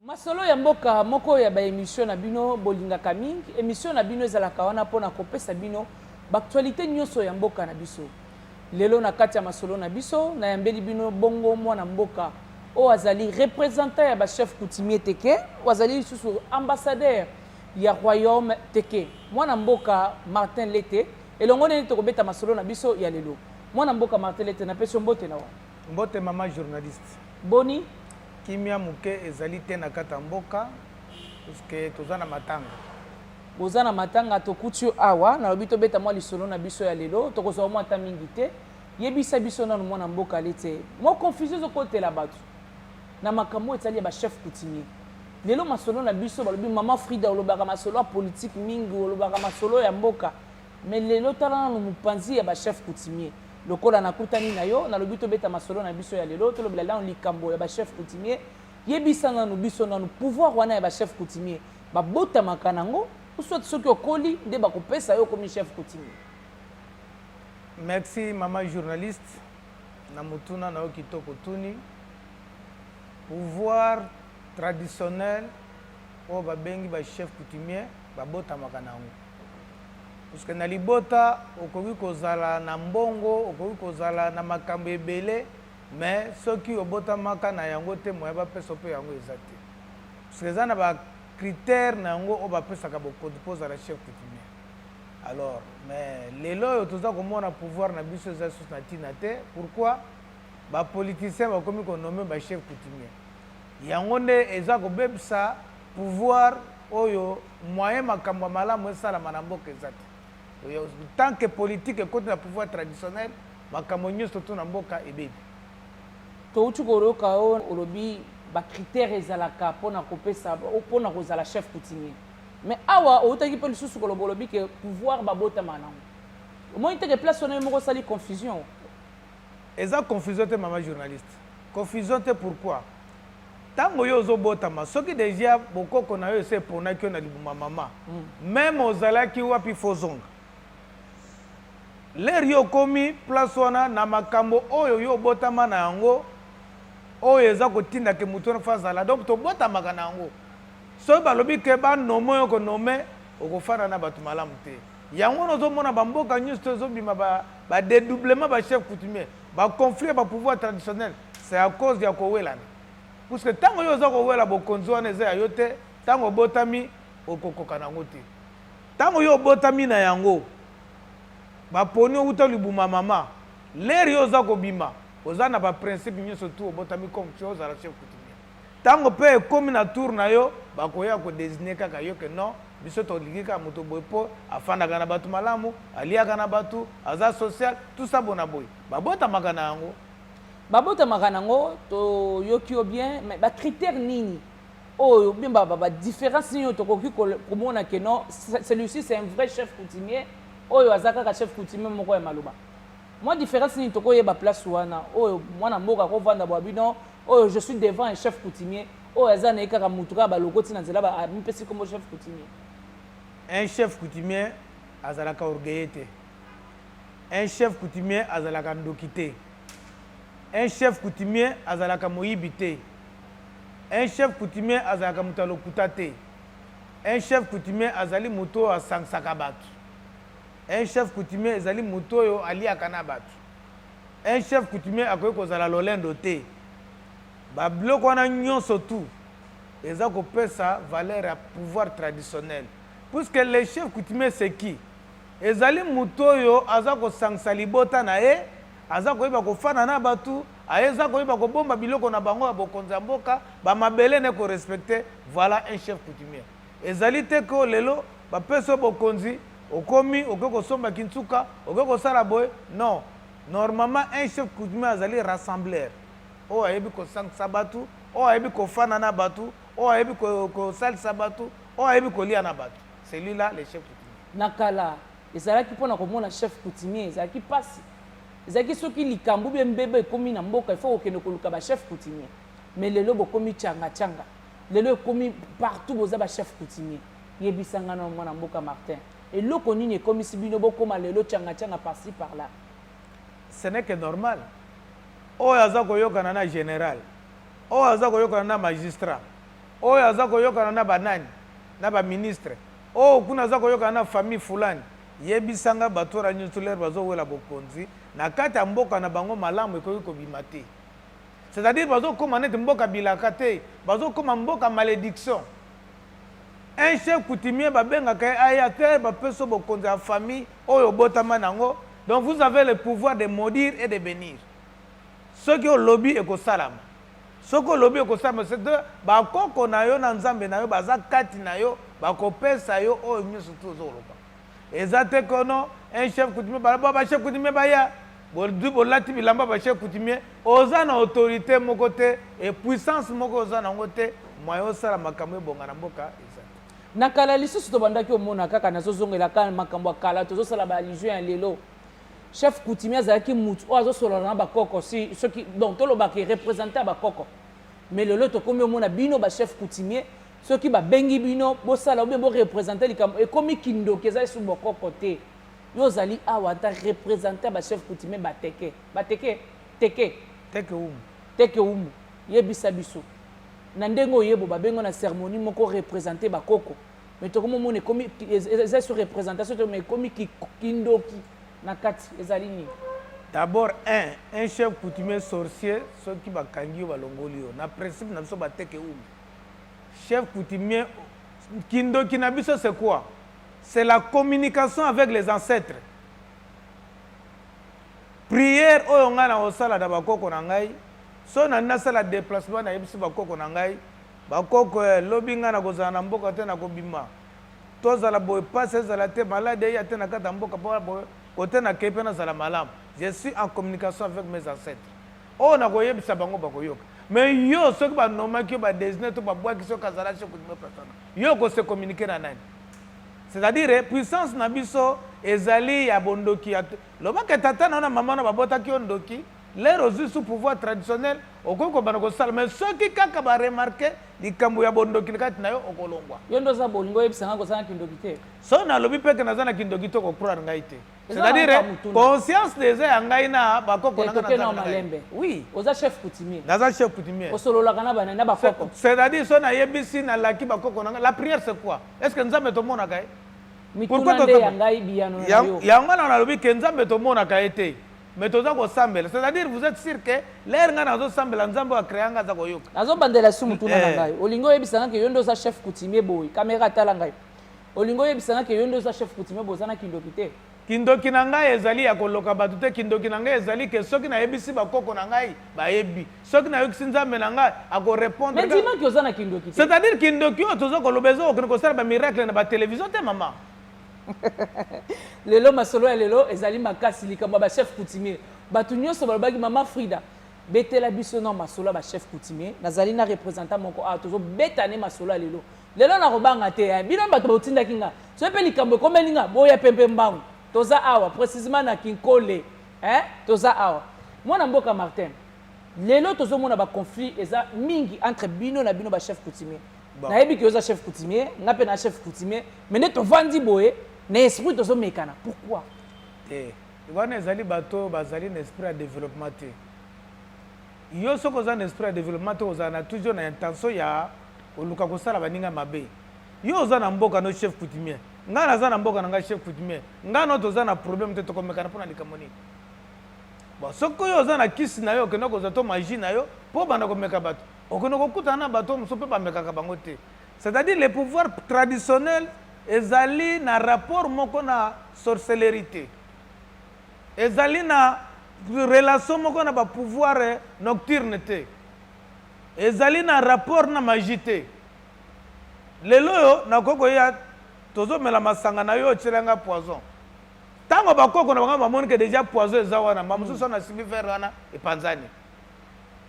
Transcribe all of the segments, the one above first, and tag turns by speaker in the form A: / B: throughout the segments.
A: Masolo ya mboka moko ya ba emission na bino bolingaka mingi. Emission na bino ezalaka wana mpo na kopesa bino b'actualite nyonso ya mboka na biso. Lelo na kati ya masolo na biso nayambeli bino bongo mwana mboka oyo azali representant ya ba chef coutumier teke oyo azali lisusu ambassadeur ya royaume teke mwana mboka Martin Lete elongo nene tokobeta masolo na biso ya lelo mwana mboka Martin Lete napesi yo mbote na wa Mbote maman
B: journaliste. Boni?
A: Kimia
B: muke ezali te na kata mboka puisque toza na matanga. Boza na
A: matanga tokuti yo awa nalobi tobeta mwa lisolo na biso ya lelo tokozwa mwa ata mingi te yebisa biso nanu mwana mboka alete mwa confusion ezokotela bato na makambo oyo etali ya bachef coutumier lelo masolo na biso balobi mama frida olobaka masolo ya politike mingi olobaka masolo ya mboka Mais lelo tala nanu mupanzi ya ba chef coutumier lokola nakutani na yo nalobi tobeta masolo na biso ya lelo tolobela nanu likambo ya ba chef coutumier yebisa nanu biso nanu pouvoir wana ya ba chef coutumier babotamaka nango soit soki okoli nde bakopesa yo okomi chef coutumier merci
B: mama journaliste na motuna na yo kitoko tuni pouvoir traditionnel oyo babengi ba chef coutumier babotamaka na yango puisque na libota okoki kozala na mbongo okoki kozala na makambo ebele mais soki obotamaka na yango te moya bapesa mpe yango eza te puisque eza na bacritère na yango oyo bapesaka bokonzi mpo ozala chef coutumier alors mais lelo oyo toza komona pouvoir na biso eza lisusu na ntina te pourquoi bapoliticien bakomi konome bachef coutumier Yango nde eza kobebisa pouvoir oyo moyen makambo ya malamu esalama na mboka eza te. Tant que politique ekoti na pouvoir traditionnel, makambo nyoso to na mboka ebebi.
A: Towuti koyoka yo olobi ba critères ezalaka pona kopesa pona kozala chef coutumier. Mais awa owutaki mpe lisusu koloba olobi ke pouvoir babotamaka nango. Omoni te ke place wana yo moko osali confusion? Eza
B: confusion te maman journaliste. Confusion te pourquoi? Tango yo ozo botama soki dejà bokoko nayo esi eponaki yo na libumu ya maman meme ozalaki wapi faut ozonga. L'heure yo okomi place wana na makambo oyo yo obotama na yango oyo eza kotinda ke moto wana faut azala donc tobotamaka na yango. Soki balobi ke ba nomme oyo oko nomme okofanda na bato malamu te. Yango wana ozo mona ba mboka nyoso ezo bima ba Ba dedoublement ba chef coutumier, ba conflit ya ba pouvoir traditionnel, c'est à cause ya kowelana. Puisque tango yo oza kowela bokonzi wana eza ya yo te, tango obotami okokoka na yango te. Tango yo obotami na yango, ba poni yo wuta libumu ya mama, l'heure yo oza kobima, oza na ba principe nionso tout obotami comme tu es ozala chef coutumier. Tango pe ekomi na tour na yo bakoya ko designer kaka yo que non biso tolingi kaka moto boye po afandaka na batu malamu, aliaka na batu, aza social, tout ça bona boye. Babotamaka na yango. Babotamaka
A: na yango toyoki yo bien mais ba critères nini oyo bien ba ba difference nini oyo tokoki komona que non celui-ci c'est un vrai chef coutumier oyo aza kaka chef coutumier moko ya maloba. Mwa difference nini tokoyeba place wana oyo mwana mboka akovanda bwa bino Oyo je suis devant un chef coutumier oyo aza na ye kaka mutu kaka balokoti na nzela amipesi kombo chef coutumier. Un
B: chef coutumier azalaka orgueilleux te. Un chef coutumier azalaka ndoki te. Un chef coutumier azalaka moyibi te. Un chef coutumier azalaka moto ya lokuta te. Un chef coutumier azali moto oyo asangisaka bato. Un chef coutumier ezali moto oyo aliaka na bato. un chef coutumier akoki kozala lolendo te babiloko wana nyonso tout eza kopesa valeur ya pouvoir traditionnel puisque le chef coutumier c'est qui ezali moto oyo aza kosangisa libota na ye aza koyeba kofana na bato aza koyeba kobomba biloko na bango ya bokonzi ya mboka bamabele ne korespecte voilà un chef coutumier ezali te ko lelo bapesi yo bokonzi okomi oke kosomba kinsuka oke kosala boye non normalement un chef coutumier azali rassembleur oyo ayebi kosangisa bato oyo ayebi kofana na bato oyo ayebi kosalisa bato oyo ayebi kolia na bato celui là le chef coutumier na kala
A: ezalaki mpo na komona chef coutumier ezalaki mpasi ezalaki soki likambo bie mbeba ekomi na mboka ifo kokende koluka bachef coutumier mais lelo bokomi changa changa lelo ekomi partout boza bachef coutumier Yebisa nga nao mwana mboka Martin, eloko nini ekomisi bino bokoma lelo changa changa par ci par là? Ce
B: n'est que normal. Oyo aza koyokana na general, oyo aza koyokana na magistrat, oyo aza koyokana na banani, na ba ministre, oyo kuna aza koyokana na famille fulani. Yebisa nga bato wana nyoso lere bazowela bokonzi na kati ya mboka na bango malamu ekoki kobima te. C'est à dire bazo koma neti mboka bilaka te bazo koma mboka malediction un chef coutumier babengaka ye aya te bapeso bokonzi ya famille oyo obotama nango donc vous avez le pouvoir de maudire et de bénir soki olobi ekosalama soki olobi ekosalama c'est bakoko na yo na nzambe na yo baza kati na yo bakopesa yo oyo nyonso tu ozoloba eza te kono un chef coutumier balaba ba chef coutumier baya Bozwi bolati bilamba ba chef coutumier, oza na autorite moko te et puissance moko oza na yango te, moyen osala makambo ebonga na mboka eza te. Na kala lisusu
A: tobandaki omona kaka nazozongela kaka makambo ya kala tozosala ba allusion ya lelo chef coutumier azalaki mutu oyo azosolola na bakoko si soki donc tolobaka erepresente ya bakoko mais lelo tokomi omona bino ba chef coutumier soki babengi bino bosala obe borepresente likambo ekomi kindoki eza esu bokoko te Yo ozali awa en tant representant ba chef coutumier ba teke ba teke teke teke umu teke umu yebisa biso na ndenge oyebo babengo na ceremonie moko representer ba koko mais tokomo mona ekomi eza sur representation to mais ekomi kindoki na kati ezali nini
B: d'abord un un chef coutumier sorcier soki bakangi yo balongoli yo na principe na biso bateke umu chef coutumier kindoki na biso c'est quoi C'est la communication avec les ancêtres. Prière oyo ngai nakosala na bakoko na ngai so na nasala déplacement nayebisi bakoko na ngai bakoko eh, lobi ngai nakozala na mboka te nakobima tozala boye mpasi ezala te malade eya te na kati ya mboka mpo boye kote nakei mpe nazala malamu je suis en communication avec mes ancêtres Oyo nakoyebisa bango bakoyoka. Mais yo soki ba nomaki yo ba designer to ba bwaki soki azala chez Kudime persona. Yo ko se communiquer na nani? C'est-à-dire puissance na biso ezali ya bondoki ya loba ke tata na na maman na babotaki yo ndoki lero ozwi sous pouvoir traditionnel okoki kobanda kosala mais soki kaka baremarke likambo ya bondoki kati na yo okolongwa yo nde oza bolingo
A: oyebisa ngai kozala na kindoki te so nalobi mpeke
B: naza na kindoki te okocroire ngai te c'est-à-dire conscience déjà ya ngai na bakoko na ngai na malembe oui
A: oza chef coutumier naza chef coutumier
B: osololaka na bana na
A: bakoko c'est-à-dire so nayebisi
B: nalaki bakoko na ngai la prière c'est quoi est-ce que nzambe tomonaka ye mituna nde
A: ya ngai biyano na yo yango wana nalobi ke
B: nzambe tomonaka ye te mais toza kosambela c'est-à-dire vous êtes sûr que lere ngai nazosambela nzambe oyo akrea ngai aza koyoka nazobandela su motuna
A: na eh. ngai olingi oyebisa ngai ke yo nde oza chef coutumier boye kamera atala ngai Olingi oyebisa nga ke yo nde oza chef coutumier boza na kindoki te? Kindoki na ngai
B: ezali ya koloka bato te, kindoki na ngai ezali ke soki nayebisi ba koko na ngai bayebi, soki nayokisi Nzambe na ngai ako repondre. Mais ndima ke oza na kindoki
A: te. C'est à dire kindoki oyo
B: tozo koloba ezo kokende kosala ba miracle na ba television te mama.
A: lelo masolo ya lelo ezali makasi likambo ya ba chef coutumier. Bato nyonso balobaki mama Frida betela biso na masolo ya ba chef coutumier. Nazali na représentant moko awa tozo beta ne masolo ya lelo. Lelo na kobanga te eh. Bino bato botindaki nga. Soki pe likambo ekomeli nga, boya pe mpe mbangu. Toza awa, precisement na Kinkole. Eh, toza awa. Mwana mboka Martin, lelo tozo mona ba conflits eza mingi entre bino na bino ba chefs coutumiers. Bon. Nayebi que oza chef coutumier, nga pe na chef coutumier, mais nde tovandi boye, na esprit tozo mekana. Pourquoi? Te.
B: Wana ezali bato bazali na esprit ya developpement te. Yo soki oza na esprit ya developpement te kozala na toujours na intention ya koluka kosala baninga mabe. Yo oza na mboka no chef coutumier. Ngai naza na mboka na ngai chef coutumier. Ngai no toza na problème te tokomekana mpo na likambo nini? Bon, soki yo oza na kisi na yo okenda kozwa to magie na yo mpo obanda komeka bato okenda kokutana na bato mosusu mpe bamekaka bango te c'est-à-dire le pouvoir traditionnel ezali na rapport moko na sorcellerie te Ezali na relation moko na ba pouvoir nocturne te. Ezali na rapport na magie te. Lelo oyo nakoki koya tozomela masanga na yo otyela ngai poison ntango bakoko na bango bamoni ke deja poison eza wana mba mosusu wana asimbi vere wana epanzani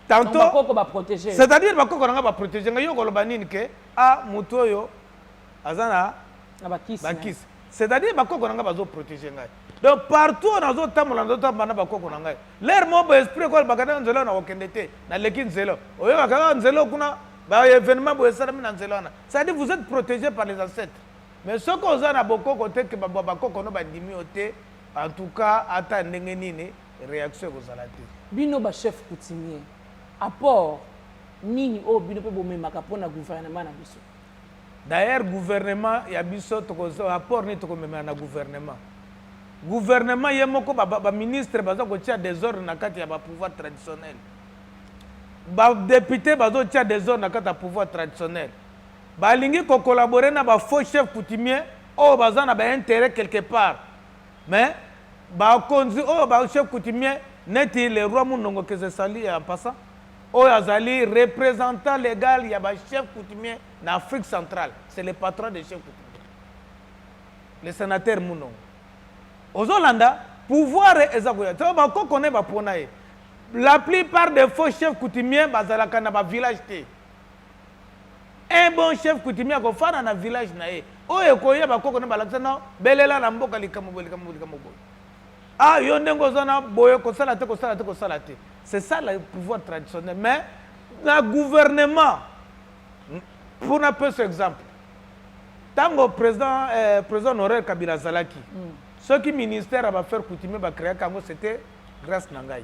B: tantoc-à-dire bakoko na ngai baprotege ngai yo koloba nini ke a ah, motu oyo aza na na bakisi na ye. bakisi c'est à dire bakoko na ngai bazo protege ngai donc partout oyo nazotambola nazotambola na bakoko na ngai lere moko boye esprit ekoyo bakataka nzela oyo nakokende te naleki nzela oyo. oyokaka kaka nzela oyo kuna ba événement boye esalami na nzela wana c'est à dire vous êtes protégé par les ancêtres mais soki oza na bokoko te ke babwa bakoko no bandimi yo te en tout cas ata ndenge nini réaction ekozala te bino bachef
A: coutumier apport nini oyo bino mpe bomemaka mpo na gouvernement na biso D'ailleurs
B: gouvernement ya biso toko apport nini tokomemela na gouvernement gouvernement ye moko baministre baza kotia desordre na kati ya bapouvoir traditionnel badepute bazotia desordre na kati ya pouvoir traditionnel balingi kocollabore na bafaux chef coutumier oyo baza na baintérêt quelque part mais bakonzi oyo bachef coutumier neti le roi munongo kesesali ya mpasa oyo azali représentant légal ya bachef coutumier na Afrique centrale c'est le patron de Chef Kutumba le sénateur Munongo ozolanda pouvoir eza koya to bakoko ne bapona ye la plupart des faux chefs coutumiers bazalaka na bavillage te un bon chef coutumier akofanda na village na ye oyo ekoya bakoko na balakisa na belela na mboka likambo boye likambo likambo boye ah yo ndenge oza na boye kosala te kosala te kosala te c'est ça le pouvoir traditionnel mais na gouvernement mpo napesa exemple ntango président eh, président honoraire kabila azalaki mm. soki ministère ya bafaire coutumier bacréaka yango c'était grâce na ngai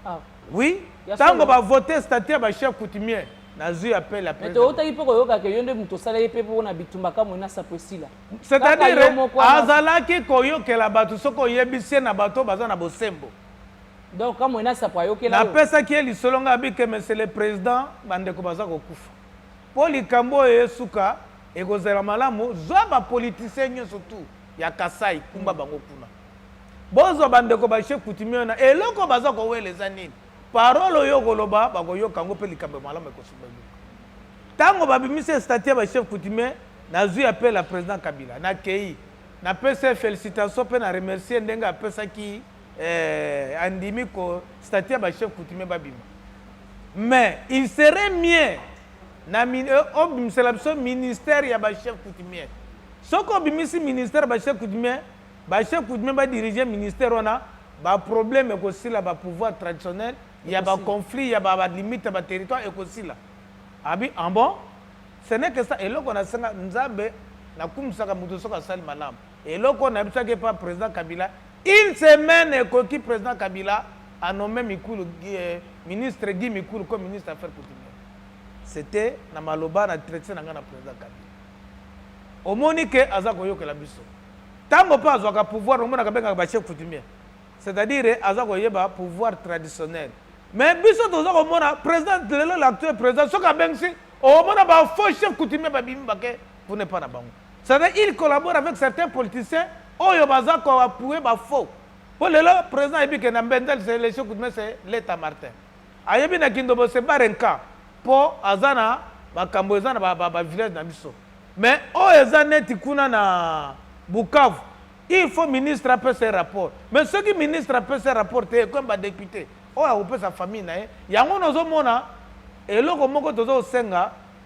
B: ah.
A: oui
B: ntango bavote statut ya bachef coutumier nazwi appel ya toyotaki mpe koyokaka yo nde moto osala ye mpe mpo na bitumba kamwe na sapo esila c'est-à-dire azalaki koyokela bato soki oyebisi ye na bato baza na bosembo Donc
A: kamwe na sapo ayokela yo. Napesaki ye lisolo
B: ngai abike monsieur le president bandeko baza kokufa. Mpo likambo oyo esuka ekozala malamu zwa ba politiciens nyonso tout ya Kasai kumba bango kuna. Bozwa bandeko ba chef coutumier na eloko baza kowela eza nini? Parole oyo okoloba bakoyoka yango mpe likambo ya malamu ekosuka eluka. Ntango babimisi statut ya ba chef coutumier nazwi appel ya president Kabila nakei napesi ye felicitation mpe na remercier ndenge apesaki eh, andimi ko statut ya ba chef coutumier babima mais il serait mieux na euh, obimisela biso ministère ya ba chef coutumier soki obimisi ministère ba chef coutumier ba chef coutumier badirige ministère wana baproblème ekosila bapouvoir traditionnel ya baconflit ya balimite ya baterritoire ekosila abi en ah bon ce n'est que ça eloko nasenga nzambe nakumisaka moto soki asali malamu Eloko oyo nayebisaki epa president Kabila une semaine ekoki president Kabila a nomme Mikulu ministre Guy Mikulu comme ministre affaires coutumières. C'etait na maloba na direction na ngai na president Kabila. Omoni ke aza koyokela biso. Tango pa azwaka pouvoir omonaka bengaka ba chef coutumier. C'est-à-dire aza koyeba pouvoir traditionnel. Mais biso toza komona president lelo l'actuel president soki abengisi omona ba faux chef coutumier babimi bake kuna epa na bango. Ça veut il collabore avec certains politiciens oyo baza ko appuyer ba faux. Po lelo président ayebi que na Mbendel c'est le chef coutumier c'est Leta Martin. Ayebi na Kindobo c'est Barenka po aza na makambo eza na ba, ba, ba village na biso. Mais oyo eza neti kuna na Bukavu il faut ministre apesa rapport mais soki ministre apesa rapport te ekomi badepute oyo akopesa famille na ye yango nozomona eloko moko toza kosenga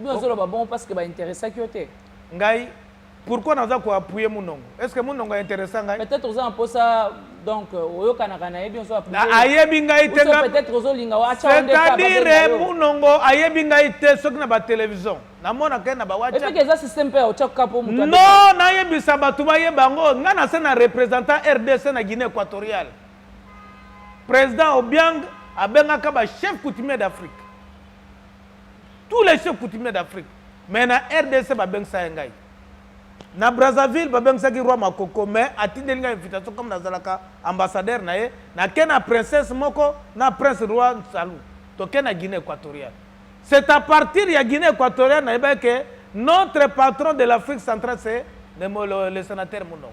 B: Yo
A: ozoloba bongo parce que ba interessaki yo te. Ngai
B: pourquoi naza ko appuyer munongo? Est ce que munongo a interessa ngai? Peut-être oza na posa
A: donc euh, oyokanaka na ye bien ozo appuyer. Na ayebi ngai te nga.
B: Peut-être ozolinga wa acha
A: onde ka. C'est-à-dire
B: munongo ayebi ngai te soki na ba television. Namona ke na ba WhatsApp. Et puis eza système pe
A: ocha kapo mutu. Non, nayebisa
B: bato bayeba ngo nga na se na représentant RDC na Guinée équatoriale. Président Obiang abengaka ba chef coutumier d'Afrique. tous les chefs coutumiers d'afrique mais na rdc babengisa ye ngai na brazzaville babengisaki roi makoko mais atindeli ngai invitation comme nazalaka ambassadeur na ye nake na princesse moko na prince roi nsalu toke na guinée équatoriale c'est à partir ya guinée équatoriale nayebaki ke notre patron de l'afrique centrale c'est le, le, le sénateur munongo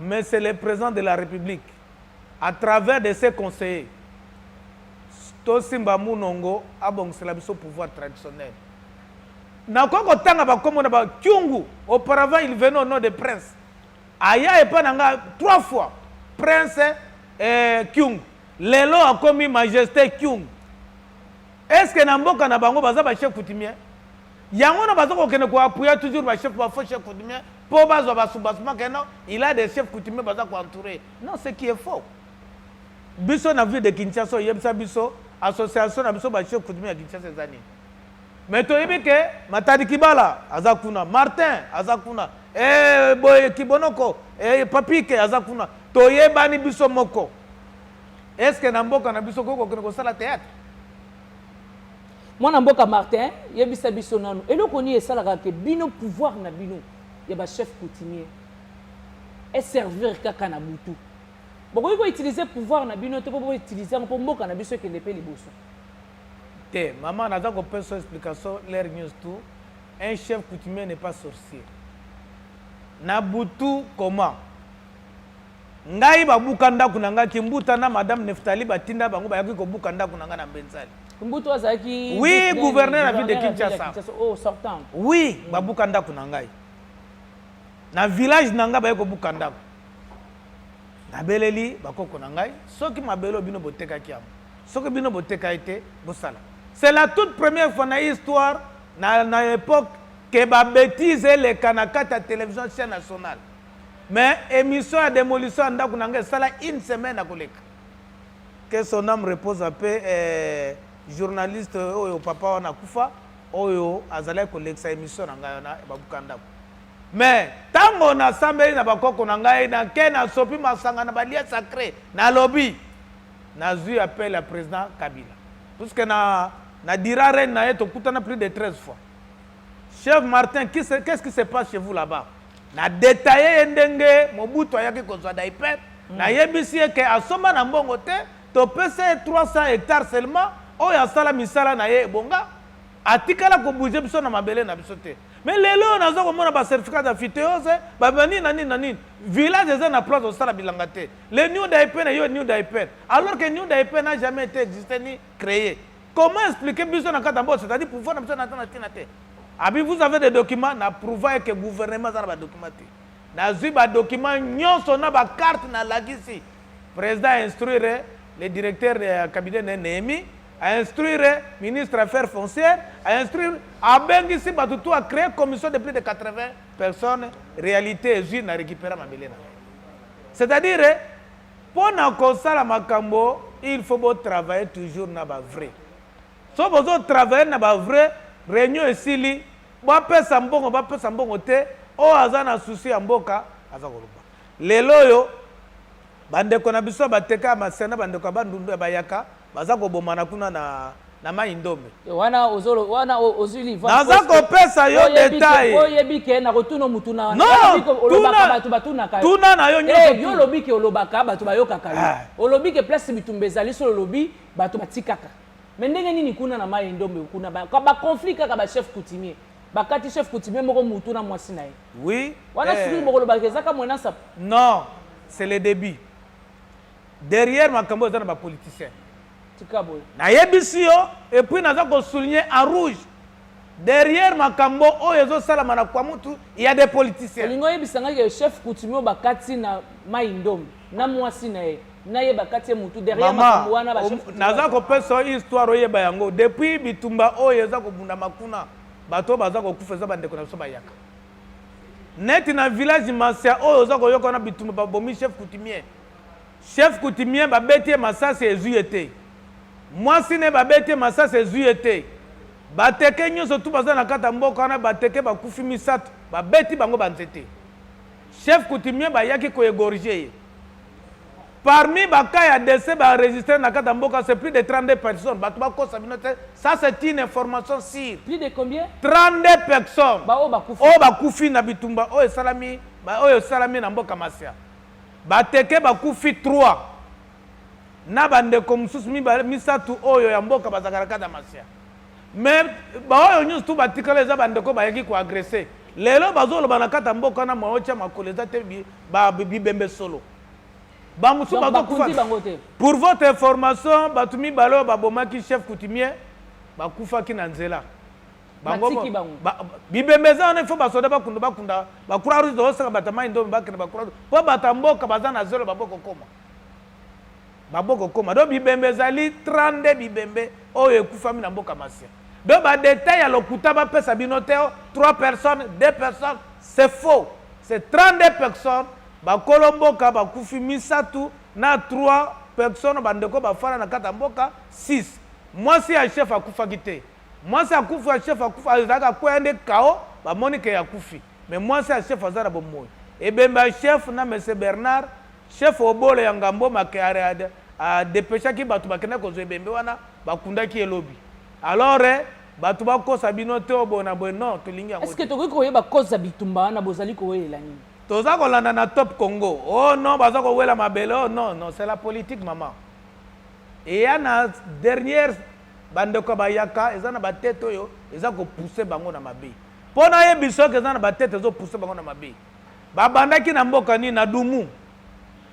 B: Mais c'est le president de la republique à travers de ses conseillers tosimba munongo abongisela biso pouvoir traditionnel nakoki kotanga bakombo na bakyungu auparavant il venait au nom de prince aya epai na nga trois fois prince eh, kyungu lelo akomi majesté kyungu est ce que na mboka na bango baza bachef coutumier Yango na baza kokende ko appuyer toujours ba chef ba faux chef coutumier po bazwa ba soubassement que non il a des chefs coutumiers baza ko entourer non ce qui est faux biso na ville de Kinshasa oyebisa biso association na biso ba chef coutumier ya Kinshasa eza nini mais toyebi ke Matadi Kibala aza kuna Martin aza kuna eh boye Kibonoko eh Papike aza kuna toyebani biso moko est-ce que na mboka na biso kokokende kosala théâtre
A: mwana mboka martin yebisa biso nanu eloko nini esalaka ke bino pouvoir na bino ya bachef coutumier eservir kaka na butu bokoki koutilize pouvoir na bino te mpo boutilize yango mpo mboka na biso ekende mpe liboso te
B: mama naza kopesa explication l'air news tout un chef coutumier n'est pas sorcier na butu comment Ngai babuka ndako na ngai kimbuta na madame Neftali batinda bango bayaki kobuka ndako na ngai na Mbenzali. Kimbuta azalaki
A: Oui, gouverneur ya
B: ville de Kinshasa. Oh, sortant.
A: Oui, babuka
B: ndako na ngai. Na village na ngai bayaki kobuka ndako. Nabeleli bakoko na ngai soki mabelo bino botekaki yango. Soki bino boteka ete bosala. C'est la toute première fois na histoire na na époque que ba bêtises eleka na kata télévision nationale. Mais emission ya demolition ya ndaku na nga esala une semaine na koleka. Que son âme repose en paix eh, journaliste oyo papa wana kufa oyo azalaki kolekisa emission na ngai wana babuka ndako me ntango nasambeli na bakoko na ngai nake nasopi masanga na balie sacré nalobi nazwi appel ya président kabila puiske na, na dira reine na ye tokutana plus de 13 fois Chef Martin, qu'est-ce qu qui se passe chez vous là-bas Na detailler ye ndenge Mobutu ayaki kozwa Daipen, mm. nayebisi ye ke asomba na mbongo te, topesa ye 300 hectares seulement, oyo asala misala na ye ebonga, atikala kobouge biso na mabele na biso te. Mais lelo oyo naza komona ba certificat ya phyteose, ba nini na nini na nini. Village eza na place osala bilanga te. Le New Daipen eyo New Daipen. Alors que New Daipen n'a jamais été existé ni créé. Comment expliquer biso na kata boss, c'est-à-dire pouvoir na biso na tana tina te. Abi vous avez des documents na prouver que gouvernement za na ba documents te. Na zui ba documents nyonso na ba carte na lagisi. Président instruire le directeur de cabinet de Nehemi, a instruire ministre affaires foncières, a instruire abengisi bato tout a créer commission de plus de 80 personnes, réalité ezui na récupérer mabele na. C'est-à-dire Pona kosala makambo il faut bo travailler toujours na ba vrais. Soki bozo travailler na ba vrais, reunion esili, ba pesa mbongo ba pesa mbongo te, oyo aza na souci ya mboka aza koloba. Lelo oyo ba ndeko na biso ya Bateka ya Masina na ba ndeko ya Bandundu ya Bayaka Baza kobomana kuna na na mai ndombe eh, wana ozolo
A: wana ozui liva naza
B: kopesa yo detail oyebi ke na kotuna
A: mutuna wana no, olobaka
B: bato
A: batunaka tuna na yo eh, nyonso yo
B: olobi ke olobaka
A: bato bayokaka yo ah. olobi ke place bitumba ezali solo olobi bato batikaka me ndenge nini kuna na mai ndombe kuna baconflit kaka bachef coutumier bakati chef coutumier moko mutu na mwasi na ye oui wana eh.
B: soki bokolobaka
A: ezaka mwenasa non
B: c'est le début Derrière makambo eza na ba politiciens. Tika boye. Nayebisi yo et puis naza ko souligner en rouge. Derrière makambo oyo ezo salama na kwa mutu, il y a des politiciens. Olingi oyebisa ngai que
A: chef coutumier bakati na Mai Ndombe na mwasi na ye na ye bakati ye mutu derrière makambo wana ba chef coutumier. Naza ko pesa yo histoire
B: oyeba yango depuis bitumba oyo eza kobundama kuna bato oyo baza kokufa eza bandeko na biso bayaka neti na village masia oyo oza koyoka wana bitumba babomi chef coutumier Chef coutumier ba beti ye masasi ezui ye te. Mwasi naye ba beti ye masasi ezui ye te. Ba teke nyoso tout baza na kati ya mboka wana ba teke ba kufi misatu ba beti bango ba nzete. Chef coutumier ba yaki ko egorger ye. Parmi ba cas ya decès ba enregistrer na kati ya mboka c'est plus de 32 personnes batu ba kosa bino te ça c'est une information sur Plus de combien?
A: 32
B: personnes Ba oyo ba kufi. oyo
A: ba
B: kufi na bitumba
A: oyo
B: esalami ba oyo esalami na mboka Masia. Bateke bakufi trois na bandeko mosusu mibale misato oyo ya mboka bazalaka na kati ya masya me baoyo nyonso tu batikala eza bandeko bayaki koagrese lelo bazoloba na kati ya mboka na maotya makolo eza te bibembe solo bamosusu bazokufa pour votre information bato mibale oyo babomaki chef coutumier bakufaki na nzela bango Batiki bango. ba- ba- bibembe eza wana ifo basoda bakunda bakunda bakura rouge tosaka bato ya mai ndomi bakende bakura rouge mpo bato ya mboka baza na zelo babokokoma babokokoma do bibembe ezali 32 bibembe oyo ekufami na mboka masia do badetail ya lokuta bapesa bino te o 3 personnes 2 personnes c'est faux c'est 32 personnes bakolo mboka bakufi misato na 3 personnes bandeko bafana na kati ya mboka 6 mwasi ya chef akufaki te Mwasi akufi ya chef akufi azalaki akweya nde cao ba moni ke akufi mais mwasi ya chef aza na bomoyi ebembe ya chef na monsieur Bernard chef obolo ya ngamboma ke a depechaki batu bakendaki kozwa ebembe wana bakundaki ye lobi alors bato bakosa bino te oyo boye na boye non tolingi yango eske tokoki koyeba
A: koza bitumba wana bozali kowelela nini toza kolanda na
B: top congo o oh non baza kowela mabele o oh non non c'est la politique mama eya na dernière Ba ndeko ya bayaka eza na ba tete oyo eza ko pousser bango na mabe. Po na yebi soki eza na ba tete ezo pousser bango na mabe. Ba bandaki na mboka nini na Dumu.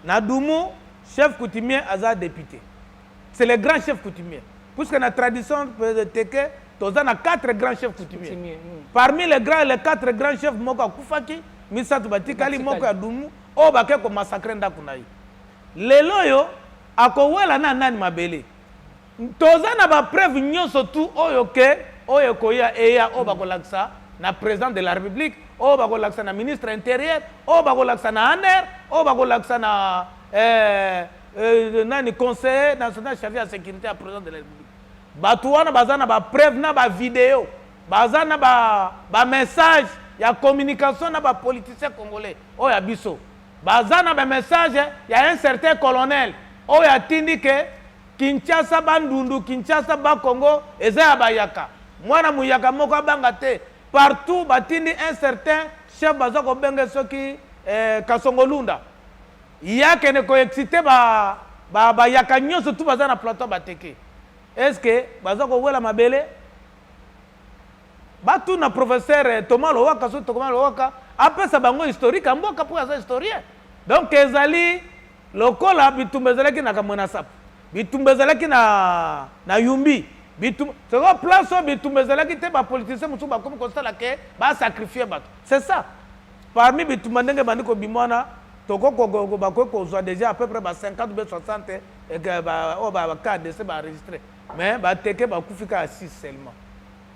B: Na Dumu chef coutumier aza depute. C'est le grand chef coutumier. Puisque na tradition teke toza na quatre grands chefs coutumiers. Hmm. Parmi les grands les quatre grands chefs moko akufaki misato batikali moko ya Dumu oyo bake ko massacrer ndako na ye. Lelo yo akowela na nani mabele? Toza na ba preuves nionso tout oyo que oyo ekoya eya oyo bakolakisa na president de la republique oyo bakolakisa na ministre interieur oyo bakolakisa na aner oyo bakolakisa na eh, eh, nani conseiller national chargé ya sécurité ya president de la republique bato wana baza na ba preuve na ba video baza na ba, ba message ya communication na ba politicien congolais oyo ya biso baza na ba message ya un certain colonel oyo atindi ke Kinshasa bandundu Kinshasa bas Congo eza ya bayaka mwana muyaka moko abanga te partout batindi un certain chef baza kobenge soki eh, kasongolunda ye akende koexcite ba, ba, bayaka nyonso tu baza na plateau bateke est ce que baza kowela mabele batuna professeur eh, thomas lowaka so thomas lowaka apesa bango historique ya mboka mpo aza historien donc ezali Lokola bitumba ezalaki na Kamwena Nsapu, bitumba ezalaki na, na Yumbi, bitumba sikoyo place oyo bitumba ezalaki te, bapolitisien mosusu bakomi kosala ke basakrifie bato. C'est ça. Parmi bitumba ndenge ebandi kobima wana, bakoki kozwa deja à peu près ba 50 be 60 oyo baka dese baenregistre mais bateke bakufi kaka 6 seulement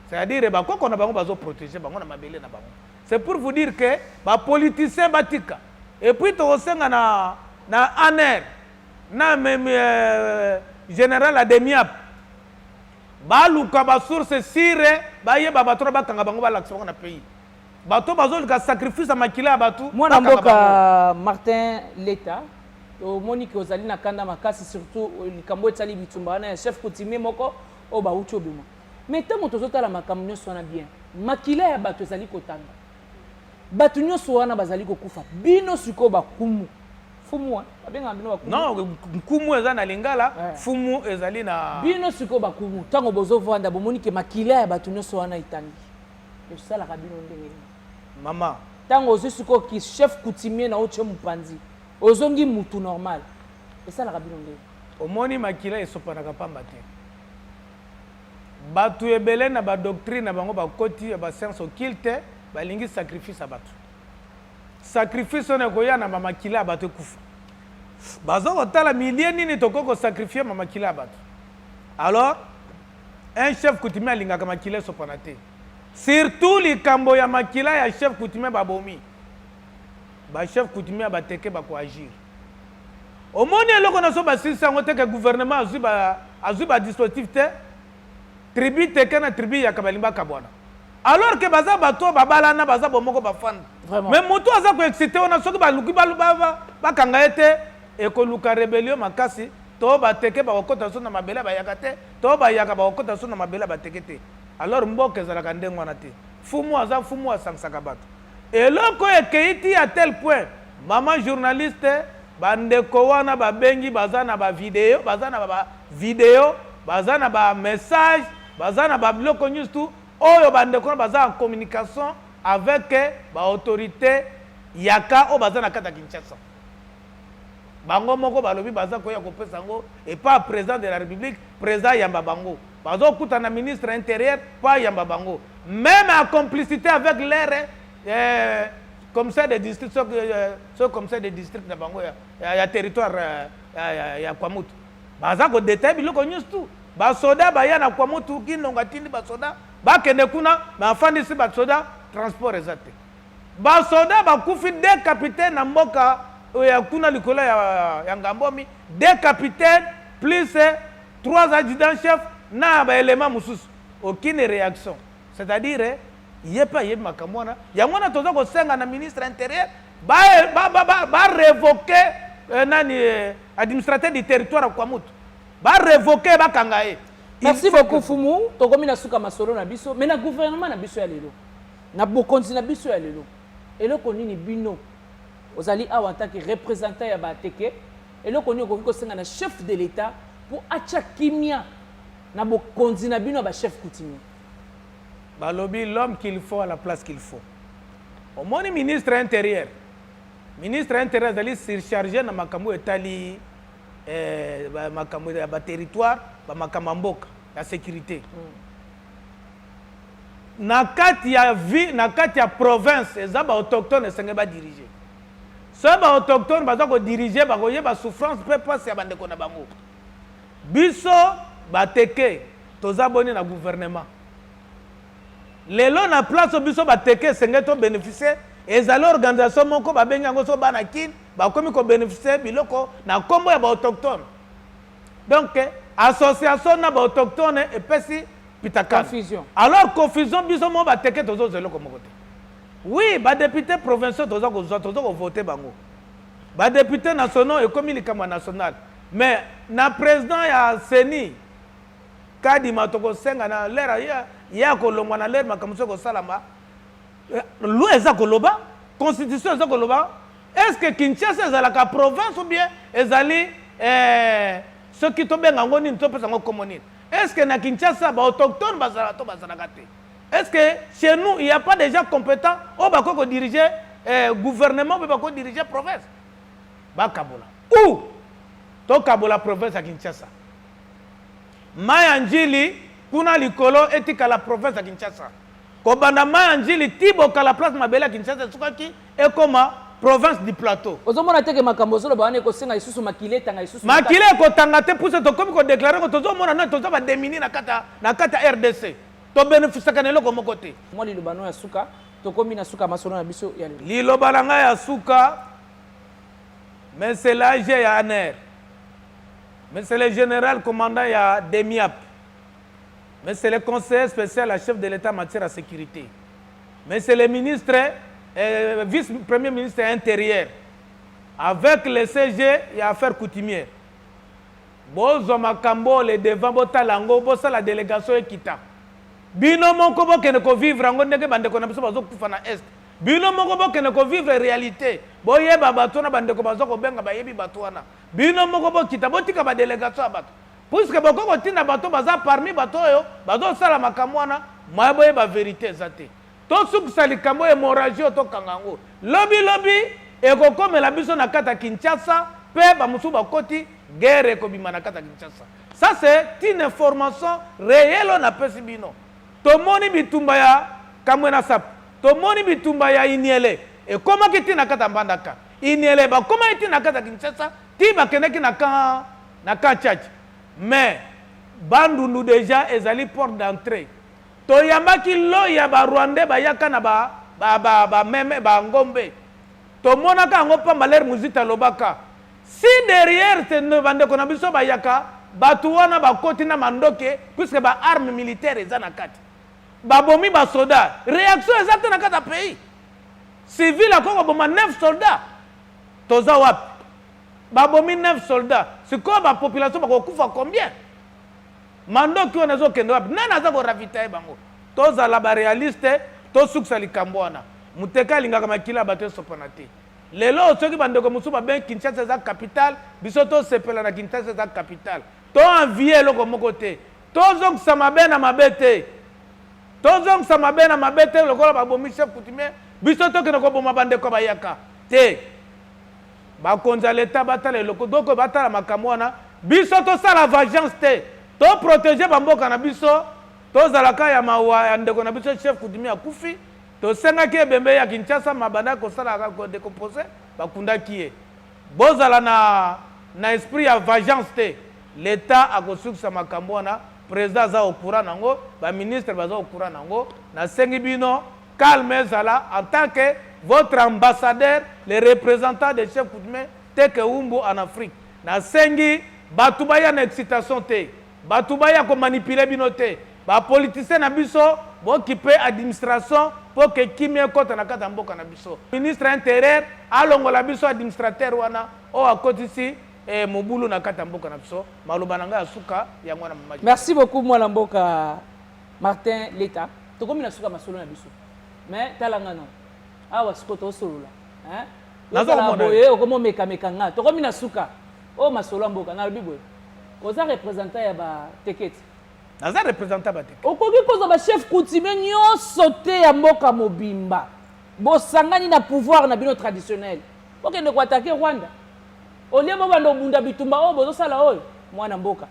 B: c'est-à-dire bakoko na bango bazoprotege bango na mabele na bango c'est pour vous dire que bapoliticien batika Et puis tokosenga na na Aner na meme euh, general Ademiap baluka ba source sire bayeba bato na bakanga bango balakisa bango na pays bato bazolika sacrifice ya makila ya bato mwana mboka
A: Martin Leta omoni ke ozali na kanda makasi surtout euh, likambo etali bitumba wana ya chef coutumier moko oyo bauti obima mais ntango tozotala makambo nyonso wana bien makila ya bato ezali kotanga bato nyonso wana bazali kokufa bino sikoyo bakumu fumu eh? babengaka bino bakumu non nkumu
B: eza na lingala eh. fumu ezali na bino sikoyo bakumu
A: ntango bozovanda bomoni ke makila ya bato nyonso wana etangi esalaka bino ndenge nini mama
B: ntango ozwi
A: sikoyo ki chef coutumier na otye mopanzi ozongi mutu normal esalaka bino ndenge omoni makila
B: esopanaka mpamba te Batu ebele na ba doctrine na bango ba koti ya ba science occulte ba lingi sacrifice ya batu. Sacrifice wana ekoya na ba makila ya batu ekufa. Bazo kotala milieu nini tokoki ko sacrifier ma makila ya batu. Alors un chef coutumier alingaka makila esopana te. Surtout likambo ya makila ya chef coutumier babomi. Ba chef coutumier ya bateke bako agir. Omoni eloko na so basilisi yango te ke gouvernement azui ba azui ba dispositif te tribu teke na tribu yaka balingi bakabwana alors ke baza bato oyo babalana baza bomoko bafanda Vraiment. mais moto oyo aza koexcite wana soki baluki balu- ba- ba- bakanga ye te ekoluka rebellion makasi to bateke bakokota so na mabele ya bayaka te to bayaka bakokota so na mabele ya bateke te alors mboka ezalaka ndenge wana te fumu aza fumu asangisaka bato Eloko oyo ekeyi ti à tel point maman journaliste ba ndeko wana ba bengi baza na ba video baza na ba video baza na ba message baza na ba biloko nionso tout oyo ba ndeko wana baza en communication avec ba autorites ya cas oyo baza na kati ya Kinshasa. bango moko balobi baza koya kopesa yango epa president de la republique president ayamba bango bazokuta na ministre ya interieur mpo ayamba bango meme en complicité avec lere eh, commissaire de district soki euh, commissaire de district na bango ya, ya, ya territoire euh, ya, ya, ya kwamutu baza kodetaye biloko nyonso tu basoda baya na kwamutu kinonga tindi basoda bakende kuna me afandisi basoda transport eza te Ba soldats bakufi deux capitaines na mboka oyo ya kuna likolo ya Ngambomi, deux capitaines plus trois adjudants chefs na ba elements mosusu. Aucune reaction. C'est à dire ye pe ayebi makambo wana. Yango wana toza kosenga na ministre ya interieur ba ba revoquer nani administrateur du territoire ya Kwamouth. Ba revoquer ye, bakanga ye. Merci beaucoup
A: Fumu, tokomi na suka masolo na biso mais na gouvernement na biso ya lelo. Na bokonzi na biso ya lelo, eloko nini bino, ozali awa en tant que representant ya ba Teke, eloko nini okoki kosenga na chef de l'Etat mpo atia kimia na bokonzi na bino ya ba chefs coutumiers?
B: Balobi l'homme qu'il faut à la place qu'il faut. Omoni ministre ya interieur, ministre ya interieur azali surcharge na makambo oyo etali eh, ba- makambo ya ba territoire, ba makambo ya mboka, ya securite. na kati ya vie na kati ya province eza ba autochtone esenge ba diriger soki ba autochtone baza ko diriger bakoyeba souffrance mpe mpasi ya bandeko na bango biso bateke toza boni na gouvernement lelo na place biso bateke esenge to bénéficier ezali organisation moko babengi yango so bana kin bakomi ko bénéficier biloko na nkombo ya ba autochtone Donc association na ba autochtones epesi pitakan. Confusion. Alors
A: confusion
B: biso mo ba teke tozo zelo ko moko te. Oui, ba députés provinciaux tozo ko zo tozo ko voter bango. Ba députés nationaux et comme likama national. Mais na président ya CENI kadima toko senga na lera ya ya ko longwa na lera makambo ko salama. Eh, loi eza koloba constitution eza koloba est ce que kinshasa ezalaka province ou bien ezali eh, soki tobenga yango nini topesa yango komo nini est ce que na kinshasa baautochtone bazalaka to bazalaka te est ce que chez nous il y a pas déjà compétent oyo bakoki kodirige eh, gouvernement mpe bakoki dirige province bakabola ou tokabola province ya kinshasa mai ya njili kuna likolo etikala province ya kinshasa Kobanda Maya Njili ti Bokala place mabele ya Kinshasa esukaki ekoma province du plateau. Ozomona te ke makambo
A: ozoloba wana ekosenga isusu makila etanga isusu. Makila ekotanga te
B: puso tokomi ko declarer ko tozomona nani toza ba demini na kata na kata RDC. To benefisaka na eloko moko te. Mwa liloba no ya suka
A: tokomi na suka masolo na biso ya lelo. Liloba na ngai ya suka
B: mais c'est l'âge ya ANR. Mais c'est le général commandant ya DEMIAP. Mais c'est le conseiller special ya chef de l'Etat en matière ya securite. Mais c'est le ministre, eh, vice-premier ministre ya interieur. Avec le CG ya affaire coutumière. Bozwa makambo le devant botala yango bosala délégation ekita. Bino moko bokende ko vivre yango ndenge bandeko na biso bazokufa na est. Bino moko bokende ko vivre réalité. Boyeba bato wana bandeko bazo kobenga bayebi bato wana. Bino moko bokita botika ba délégation ya bato. Puisque bokoki kotinda bato baza parmi bato oyo bazosala makambo wana, moyen boyeba verite eza te. Tosukisa likambo oyo, hemorragie oyo tokanga yango lobi lobi, ekokomela biso na kati ya Kinshasa mpe bamosusu bakoti, guerre ekobima na kati ya Kinshasa. Ça c'est une information reelle oyo napesi bino. Tomoni bitumba ya Kamwena Nsapu, tomoni bitumba ya Iniele ekomaki ti na kati ya Mbandaka, Iniele bakomaki ti na kati ya Kinshasa ti bakendeki na camp na ka tchatcha mais bandundu dejà ezali porte d'entree toyambaki lot ya ba rwandais bayaka na ba ba ba ba meme ba ngombe tomonaka yango pamba ler muzita alobaka si derrière te ne bandeko na biso bayaka bato wana bakoti na mandoke puisque ba arme militaire eza na kati babomi basoda réaction eza te na kati ya pays civil akoki koboma 9 soldat toza wapi Babomi 9 soldats sikoyo ba population bakokufa combien? Mandoki wana ezokende wapi? Nani aza ko ravitailler bango? Tozala ba realiste, tosukisa likambo wana. Muteka alingaka makila ya bato esopana te. Lelo oyo soki bandeko mosusu babengi Kinshasa eza capitale, biso tosepela na Kinshasa eza capitale. To envier eloko moko te. Tozongisa mabe na mabe te. Tozongisa mabe na mabe te lokola babomi chef coutumier, biso tokende koboma bandeko ya bayaka te. Bakonzi ya l'etat batala eloko donc batala makambo wana biso tosala vagence te to proteger ba mboka na biso tozalaka ya mawa ya ndeko na biso chef kudimi akufi tosengaki ebembe ya Kinshasa mabanda kosala ko decompose bakundaki ye bozala na na esprit ya vagence te l'etat akosukisa makambo wana president aza au courant nango ba ministre baza au courant nango nasengi bino Calme zala en tant que votre ambassadeur le representant de chef coutume teke umbu en Afrique na sengi batu baya na excitation te batu baya ko manipuler bino te ba politiciens na biso bo kipe administration po ke kimia ekota na kati ya mboka na biso ministre ya interieur alongola biso administrateur wana oyo akotisi eh, mobulu na kati ya mboka na biso maloba na ngai ya suka yango wana mamaki Merci beaucoup mwana mboka.
A: Martin Leta, tokomi na suka masolo na biso. Mais tala nga no. Awa siko to solola. Hein? Nazo komona. Boye okomo meka meka nga. Tokomi na suka. Oh masolo mboka na lobi boye. Oza représentant ya ba teketi. Naza représentant
B: ba teketi. Okoki kozo ba chef
A: coutumier nyoso te ya mboka mobimba. Bosangani na pouvoir na bino traditionnel. Bokende ko attaquer Rwanda. Olie bobanda obunda bitumba oyo bozosala oyo mwana mboka.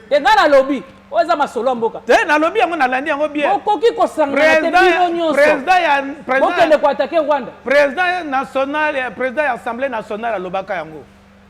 A: te ngai nalobi oyo eza masolo ya mboka te nalobi yango nalandi
B: yango bien okoki kosangana
A: te bino nyonsobokende
B: koatake
A: rwanda président national
B: président ya assemblée nationale alobaka yango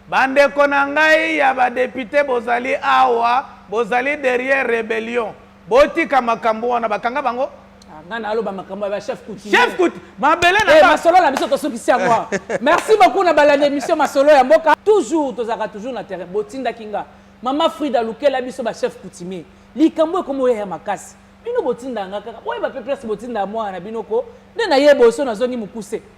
B: bandeko na ngai ya badepute bozali awa bozali derrière rébellion Botika makambo wana bakanga bango. Ah, nga na aloba
A: makambo ya ba chef coutumier. Chef coutumier. Mabele
B: na eh, ba. Masolo na biso tosukisi
A: yango. Merci beaucoup na balanda émission masolo ya mboka. Toujours tozaka toujours na terrain. Botinda kinga. Mama Frida lukela biso ba chef coutumier. Likambo ekomo ya makasi. Bino botinda nga kaka. Boyeba pe place botinda mwana na bino ko. Nde na yebo so nazongi mukuse.